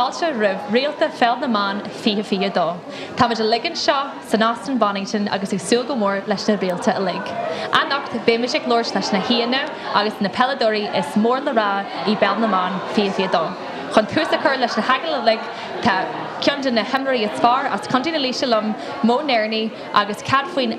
Fáilte roimh Réaltaí Pheil na mBan 2022. Táimid uilig anseo san Óstán Bonnington agus ag súil go mór leis na Réaltaí uilig. Anocht beimid ag labhairt leis na haíonna agus na peileadóirí is mór le rá i bPeil na mBan 2022. Chun tús a chur leis na hagallaimh uilig tá ceann de na himreoirí is fearr as Contae na Laoise liom, Mo Nerney agus cead faoin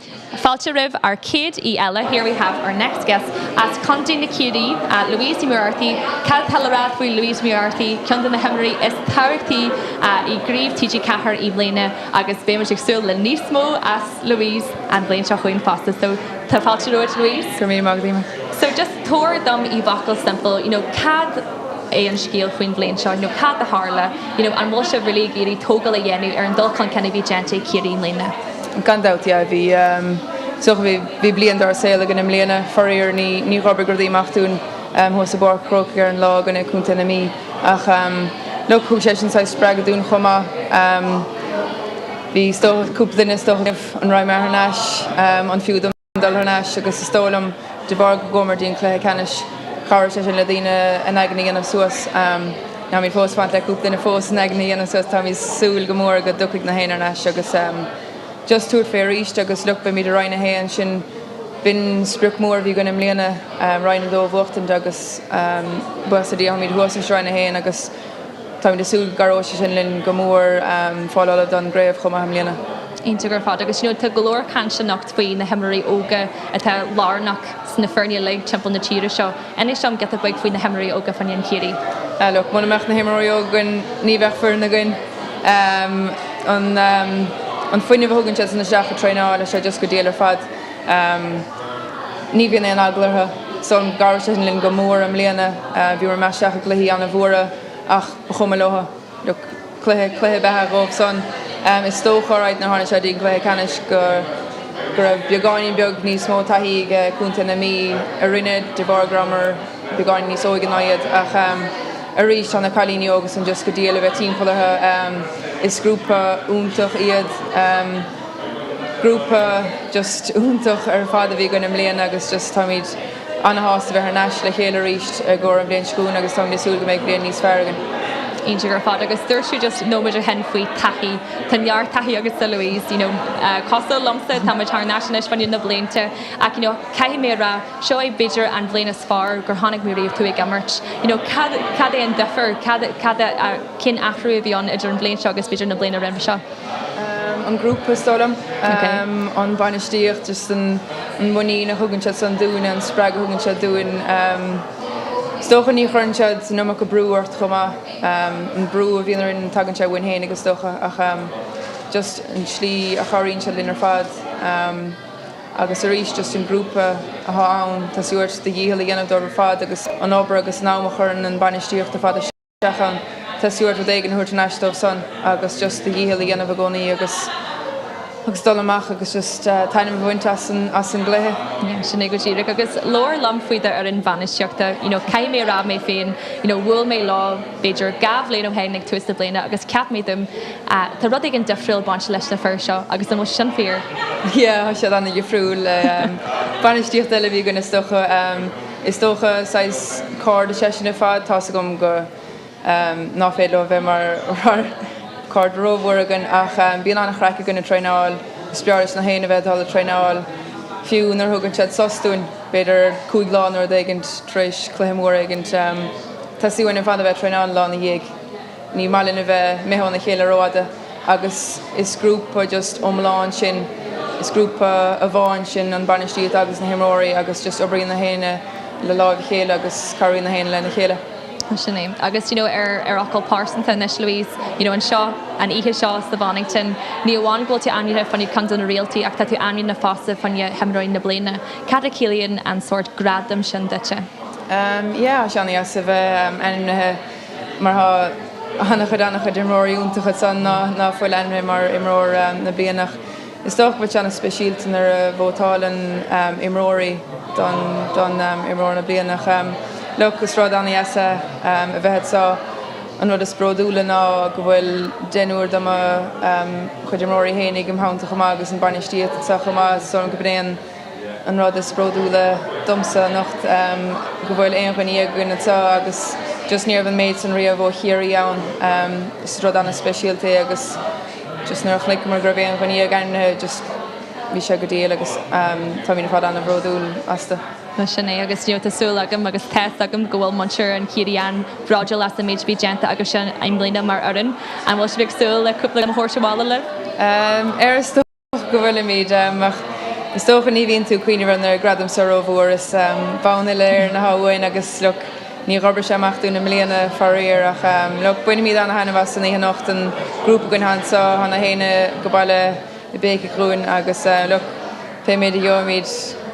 Fáilte roimh ár céad aoi eile, here we have our next guest, as Contae Chiarraí, Louise Moriarty. Cad tá le rá faoi Louise Ní Mhuircheartaigh, ceann de na himreoirí is tábhachtaí i gCraobh TG4 i mbliana agus beidh muid ag súil le níos mó as Louise an bhliain seo chugainn fosta. So tá fáilte romhat Louise. Go raibh míle maith, go dtí mé. So just tabhair dom i bhfocal simple, you know cad é an scéal faoin bhliain seo, you know cad a tharla, you know an bhfuil sibh really ag iarraidh tógáil a dhéanamh ar an dul chun cinn a bhí déanta ag Ciarraí i mbliana? Gan dabht, yeah. Bhí, ehm, so bhí, bhí bliain dar saol againn i mbliana. Faraor, ní, níor oibrigh rudaí amach dúinn, ehm, thuas i bPáirc an Chrócaigh ar an lá i gcoinne Chontae na Mí. Ach, ehm, look, thug sé sin saghas spreagadh dúinn chomh maith. Ehm, bhí, is dócha, cúpla duine, is dócha, ag déanamh a marana ar thar n-ais, ehm, an fiú dom. dul thar n-ais agus is dóigh liom de bharr go gcuamair dtí'n cluiche ceannais chabhraigh sé sin le daoine a n-aigne a dhéanamh suas. Táimid fós ag fanacht le cúpla duine fós a n-aigne a dhéanamh suas. Táimid ag súil go mór go dtiocfaidh gach éinne thar n-ais agus just tabhairt fé arís agus look beimid i Roinn 1, sin, b'in sprioc mór a bhí againn i mbliana Roinn 2 a bhuachtaint agus buíochas le Dia táimid thuas anois i Roinn 1 agus táimid ag súil go gcabhróidh sé sin linn go mór fáil ullamh don gcraobh chomh maith i mbliana. Cinnte go fada agus you know tá go leor caint anocht faoi na himreoirí óga atá lárnach sna foirne uilig timpeall na tíre seo. Inis dom giota beag faoi na himreoirí óga i bhfoireann Chiarraí. Ah look, muna mbeadh na himreoirí óga againn ní bheadh foireann againn. An fuinneamh a thugann siad san isteach ag traenáil tá sé just go diail ar fad. Ní bhíonn aon eagla orthu. So chabhraigh sé sin linn go mór i mbliana. Bhíomar ag imeacht isteach i gcluichí an-mhóra ach ba chuma leo. cluiche, cluiche ab ea é dhóibh san. Is dócha, alright, nuair a tháinig sé dtí'n gcluiche ceannais go raibh beagáinín beag níos mó taithí ag contae na Mí orainne de bharr go rabhamar beagáinín níos óige ná iad ach arís tá na cailíní óga san just go diail a bheith timpeall orthu. Is grúpa iontach iad. Grúpa just iontach ar fad a bhí againn i mbliana agus just táimid. Ana-shásta bheith thar n-ais le chéile arís i gcomhair na bliana seo chugainn agus táimid ag súil go mbeidh bliain níos fearr againn. Cinnte ar fad agus dúirt tú just nóiméid ó shin faoi taithí, tá neart taithí agatsa Louise, you know cosúil liomsa táimid thar n-ais anois fan na blianta ach you know caithfidh mé a rá seo é b'fhéidir an bhliain is fearr go bhfaca mé riamh tú ag imirt, you know cad é an difear, cad, cad a, cén athrú a bhí ann idir an bhliain seo agus b'fhéidir na bliana roimhe seo? an grúpa, is dóigh liom. an bhainistíocht, just an muinín a thugann siad san dúinne, an spreag a thugann siad dúinn. is dócha ní chuireann siad san iomarca brú ort chomh maith. an brú a bhíonn orainn tagann sé uainn féinig is dócha ach just an tslí a chabhraíonn siad linn ar fad. agus arís just an grúpa atá ann, tá sé uait do dhícheall a dhéanamh dóibh ar fad agus an obair agus an am a chuireann an bainistíocht ar fad isteach. ann. Tá sé uait rud éigin a thabhairt thar n-ais dóibh san agus just do dhícheall a dhéanamh i gcónaí agus agus dul amach agus just taitneamh a bhaint as an as an gcluiche. Yeah, sin é go díreach agus labhair liom faoi do fhoireann bhainistíochta. You know, caithfidh mé a rá mé féin, you know, bhuail mé leo b'fhéidir dhá bhliain ó shin ag tús na bliana agus cheap mé dom ah, tá rud éigin difriúil ag baint leis na fir seo agus an bhfuil sin fíor? Yeah, tá siad an-difriúil le bainistíocht eile a bhí againn is dócha. Is dócha, saghas cairde is ea sinn ar fad. Tá's agam go ná féidir leo a bheith mar cairde rómhór againn ach bíonn an-chraic againn ag traenáil. Is breá leis na héinne a bheith ag dul ag traenáil, fiú nuair a thugann siad sos dúinn, b'fhéidir cúig lá nó rud éigin tar éis cluiche mór éigin. Tá sé uainn ar fad a bheith ag traenáil an lá ina dhiaidh. Ní maith linn a bheith imithe óna chéile rófhada agus is grúpa just iomlán sinn, is grúpa amháin sinn, an bainistíocht agus na himreoirí agus just oibríonn na héinne le láimh a chéile agus cabhraíonn na héinne lena chéile. Sin é. Agus you know ar, ar fhocal pearsanta anois Louise, you know anseo, an oíche seo sa Bhonnington, ní amháin go bhfuil tú ainmnithe fá choinne ceann de na réaltaí ach tá tú ainmnithe fosta fá choinne imreoir na bliana. Cad a chiallaíonn an sórt gradaim sin duitse? Ehm yeah, tá sé an-deas a bheith ainmnithe. mar tá an-chuid an-chuid imreoirí iontacha ansan ná ná fuil ainmnithe mar imreoir na bliana ach is dócha go bhfuil sé an-speisialta nuair a vótáileann imreoirí don don imreoir na bliana ach look is rud an-deas é a bheith anseo an rud is bródúla ná go bhfuil deichniúr do mo chuid imreoirí fhéinig im theannta chomh maith agus an bainistíocht anseo chomh maith so gurb é an An rud is bródúla domsa anocht go bhfuil aon dhuine dhéag againn anseo agus just ní raibh an méid san riamh ó Chiarraí ann. Is rud ana-speisialta é agus just nuair a chonaiceamar go raibh aon dhuine dhéag ainmnithe just bhí sé go diail agus táimid ar fad ana-bhródúil astu. Bhuel sin é agus tá súil agam agus tá's agam go bhfuil muintir an Chiarraí an-bhródúil as an méid a bhí déanta acusan i mbliana mar fhoireann. An bhfuil sibh ag súil le cúpla gradam a thabhairt abhaile libh? Ara. Go bhfuilimid, ach is dócha ní bhíonn tú ag cuimhneamh ar na gradaim seo rómhór. Is bonn Uile-Éireann atá uainn agus look, níor oibrigh sé amach dúinn i mbliana faraor, ach look, bainfimid an-taitneamh as an oíche anocht, an grúpa againn anseo, tá na héinne go Baile i bPéic a' Ghlúin agus look, beimid, gheobhaimid.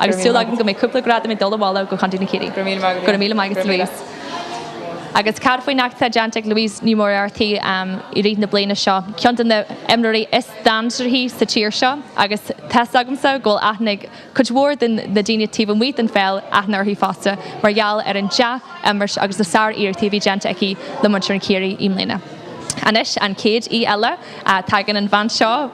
Agus súil agam go mbeidh cúpla gradam ag dul abhaile go Contae na Ciarraí. Go raibh míle maith agat, Louise. Agus cad faoin éacht atá déanta ag Louise Ní Mhuircheartaigh i rith na bliana seo? Ceann de na himreoirí is dainséaraí sa tír seo agus tá's agamsa go bhfuil aithne ag cuid mhór de na daoine taobh amuigh den pheil aithne uirthi fosta mar gheall ar an dea-imirt agus na sáriarrachtaí a bhí déanta aici le muintir an Chiarraí i mbliana. Anois an chéad aoi eile, tagann an bhean seo.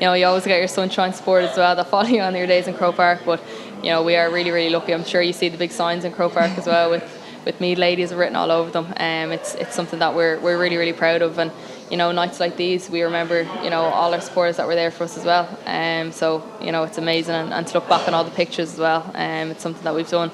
you know, you always get your sunshine sport as well that follow you on your days in Croke Park but you know we are really really lucky I'm sure you see the big signs in Croke Park as well with with Mead ladies written all over them um it's it's something that we're we're really really proud of and you know nights like these we remember you know all our supporters that were there for us as well um so you know it's amazing and, and to look back on all the pictures as well um it's something that we've done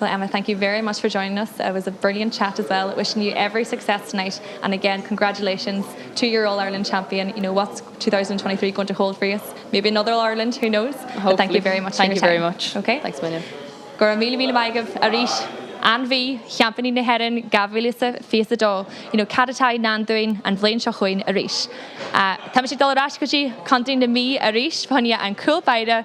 Well Emma, thank you very much for joining us, it was a brilliant chat as well, wishing you every success tonight and again congratulations to your All Ireland champion, you know what's 2023 going to hold for you, maybe another All Ireland, who knows, but thank you very much for your time. Hopefully, thank you very much, ok, thanks a million. Go raibh míle míle maith agaibh arís. Ainmhí, Sheaimpíní na hEireann 2022, you know cad atá i ndán dúinn an bhliain seo chugainn arís? Táimid ag dul ar ais go dtí Contae na Mí arís, fáinne an cúl báire.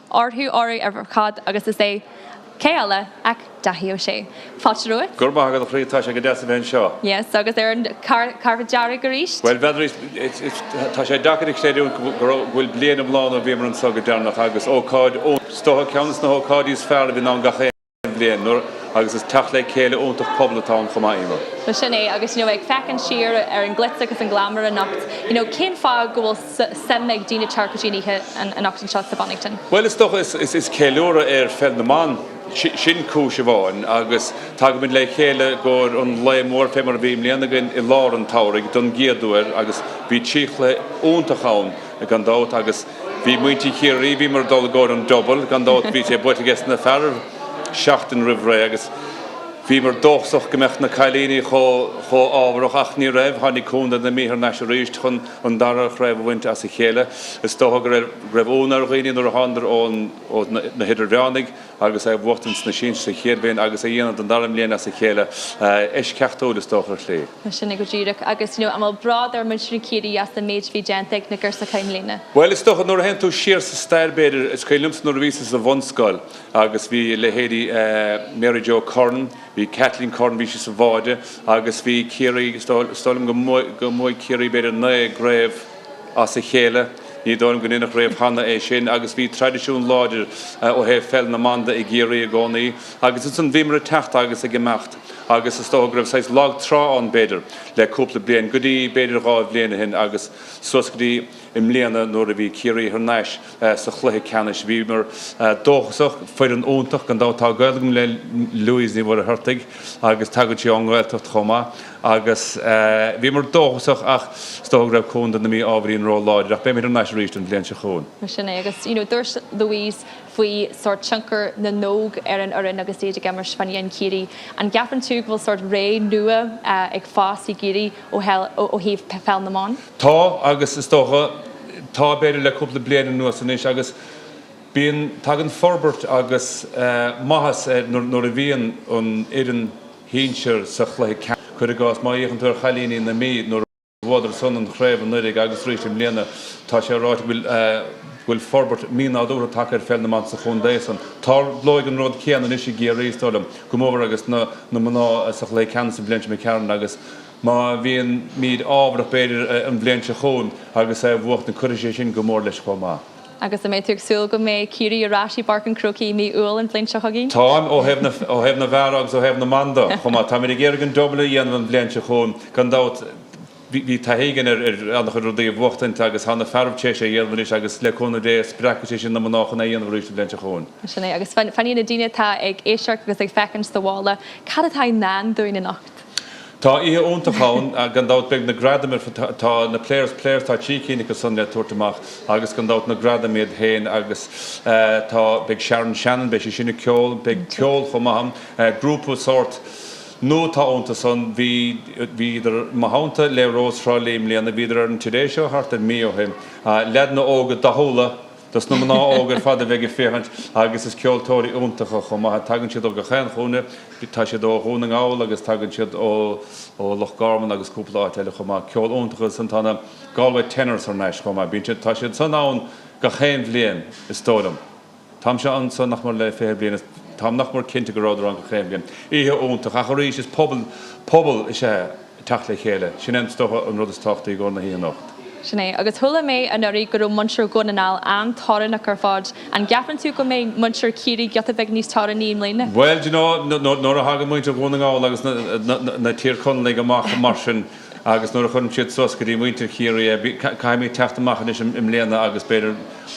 orthu áireamh ar fad agus is é cé eile ach Daithí Ó Sé. Fáilte romhat. Go raibh maith agat a chroí, tá sé go deas a bheith anseo. Yes, agus ar an carpet dearg arís. Bhuel, n'fheadar, tá sé deacair a chreidiúint go bhfuil bliain iomlán ó bhíomar anseo go deireanach agus ócáid ó is dócha ceann des na hócáidí is fearr a bhíonn ann gach aon. bhliain, agus is teacht le céile iontach pobail atá ann chomh maith, Emer. Bhuel, sin é, agus you know ag féachaint siar ar an glitz agus an glamour anocht, you know cén fáth go bhfuil suim ag daoine teacht go dtí an oíche anocht anseo sa Bonnington? Bhuel, is dócha, is is ceiliúradh ar Pheil na mBan, sin cúis amháin, agus tagaimid le chéile i gcomhair an lae mór fé mar a bhí i mbliana againn i lár an tsamhraidh don gcéad uair agus bhí trí chluiche iontach ann, gan dabht, agus bhí muintir Chiarraí, bhíomar ag dul i gcomhair an double, gan dabht, bhí sé buaite ages na fearaibh seachtain roimh ré agus bhíomar dóchasach go mbeadh na cailíní chomh, chomh hámharach ach ní raibh, tháinig Condae na Mí thar n-ais arís chun an dara chraobh a bhaint as a chéile. Is dócha go raibh, go raibh ionadh ar dhaoine nuair a thánadar ón, ó na, na hidirmheánaigh, agus é a bhuachtaint sna sinsir sa chéad bhliain agus é a dhéanamh don dara mbliain as a chéile. Eisceachtúil, is dócha, ar shlí. Mar sin é go díreach. Agus, you know, an bhfuil bród ar muintir na Ciarraí as an méid a bhí déanta ag na girseachaí i mbliana? Bhuel, is dócha, nuair a théann tú siar sa stair, b'fhéidir, is cuimhin liomsa nuair a bhíosa sa bhunscoil agus bhí leithéidí Mary Jo Curran, bhí Kathleen Curran, bhí sí sa bháide agus bhí Ciarraí, is dóigh liom go mbuaigh Ciarraí b'fhéidir naoi gcraobh, as a chéile. Ní dóigh liom go ndeineadh riamh cheana é sin agus bhí traidisiún láidir ó thaobh pheil na mban de i gCiarraí i gcónaí agus ansin bhíomar ag teacht agus ag imeacht agus is dócha go raibh saghas lag trá ann b'fhéidir le cúpla bliain go dtí b'fhéidir dhá bhliain ó shin agus suas go dtí i mbliana nuair a bhí Ciarraí thar n-ais sa chluiche ceannais. Bhíomar dóchasach. Foireann iontach gan dabht. Tá gaol agam le Louise Ní Mhuircheartaigh agus tagann sí ón nGaeltacht chomh maith. agus bhíomar dóchasach ach is dócha go raibh Contae na Mí ábhairín ró láidir ach beimid thar n-ais arís an bhliain seo chugainn. Mar sin é agus you know dúirt Louise faoi sórt tionchar na n-óg ar an fhoireann agus iad ag imirt fá choinne an Ciarraí. An gceapann tú go bhfuil sórt ré nua ag fás i gCiarraí ó thaobh Pheil na mBan? Tá agus is dócha tá b'fhéidir le cúpla bliain anuas anois agus bíonn tagann forbairt agus maitheas nuair a bhíonn an fhoireann, shinsir sa chluiche ceannais. Cuir i gcás, má fhéachann tú ar chailíní na Mí nuair a bhuadar san an chraobh anuiridh agus arís i mbliana, tá sé ráite go bhfuil forbairt mínádúrtha tagtha ar pheil na mban sa chontae san. Tarlóidh an rud céanna anois i gCiarraí, is dóigh liom, go mór mór agus na mná sa chluiche ceannais an bhliain seo imigh tharainn, agus má bhímid ámharach b'fhéidir an bhliain seo chugainn agus é a bhuachtaint, cuirfidh sé sin go mór leis chomh maith. Agus an mbeidh tú ag súil go mbeidh Ciarraí ar ais i bPáirc an Chrócaigh i mí Iúil an bhliain seo chugainn? Táim, ó thaobh na, ó thaobh na bhfear agus ó thaobh na mban de chomh maith. Táimid ag iarraidh an double a dhéanamh an bhliain seo chugainn gan dabht. Bhí taithí againn ar an-chuid rudaí a bhuachtaint agus tá na fearaibh tar éis é a dhéanamh anois agus le cúnamh Dé spreagfaidh sé sin na mná chun é a dhéanamh arís an bhliain seo chugainn. Sin é, agus fanfaidh na daoine atá ag éisteacht agus ag féachaint sa bhaile, cad atá i ndán dúinn anocht? Tá oíche iontach ann gan dabht. Beidh na gradaim ar fad, tá na Players' Players, tá trí cinn acu san le tabhairt amach agus gan dabht na gradaim iad féin agus tá, beidh Sharon Shannon, beidh sise ag ceol, beidh ceol chomh maith ann. Grúpa sórt nua atá iontu san, bhí, bhíodar i mo theannta le Rós Thrá Lí i mbliana, bhíodar ar an Today Show thart ar mí ó shin, leaideanna óga dathúla dos na mná óga ar fad a bheidh ag féachaint agus is ceoltóirí iontacha iad chomh maith. Tagann siad ó gach aon chúinne, tá siad ó Dhún na nGall agus tagann siad ó Loch Garman agus cúpla áit eile chomh maith. Ceol iontach agus ansan tá na Galway Tenors thar n-ais chomh maith. Bíonn siad, tá siad san ann gach aon bhliain is dóigh liom. Táimse anso nach mór le fiche bliain agus táim nach mór cinnte go rabhadar ann gach aon bhliain. Oíche iontach ach arís is pobal, pobal is ea, teacht le chéile. Sin é is dócha an rud is tábhachtaí i gcóir na hoíche anocht. Sin é. Agus chuala mé anuraidh go raibh muintir Dhún na nGall an-torannach ar fad. An gceapann tú go mbeidh muintir Chiarraí giota beag níos torannaí i mbliana? Bhuel, do you know, nuair a thagann muintir Dhún na nGall agus na, na, na, na Tír Chonallaigh amach mar sin agus nuair a chuireann siad suas go dtí muintir Chiarraí é, bí, caithfidh muid teacht amach anois i mbliana agus b'fhéidir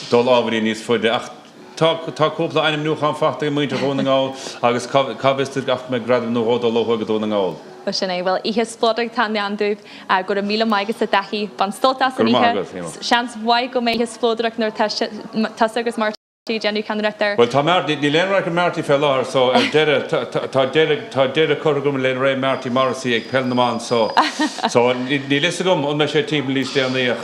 dul ábhairín níos faide ach Tá cúpla ainmniúchán faighte ag muintir Dhún na nGall agus cá bhfios duit ach go mbeidh gradam nó dhó ag dul ó thuaidh go Dún na nGall. Bhuel, sin é. Bhuel, oíche spleodrach atá i ndán dúinn. Go raibh míle maith agatsa, Dáithí. Bain sult as an oíche. Go raibh maith agat, Eimear. Seans mhaith go mbeidh oíche spleodrach nuair atá tusa agus Marty ag déanamh ceannaireacht air. Bhuel, tá Marty. Níl aon radharc ar Marty fé láthair so ar deireadh tá deireadh tá deireadh curtha agam le ré Marty Morrissey ag Peil na mBan so so níl fhios agam an mbeidh sé timpeall níos déanaí ach,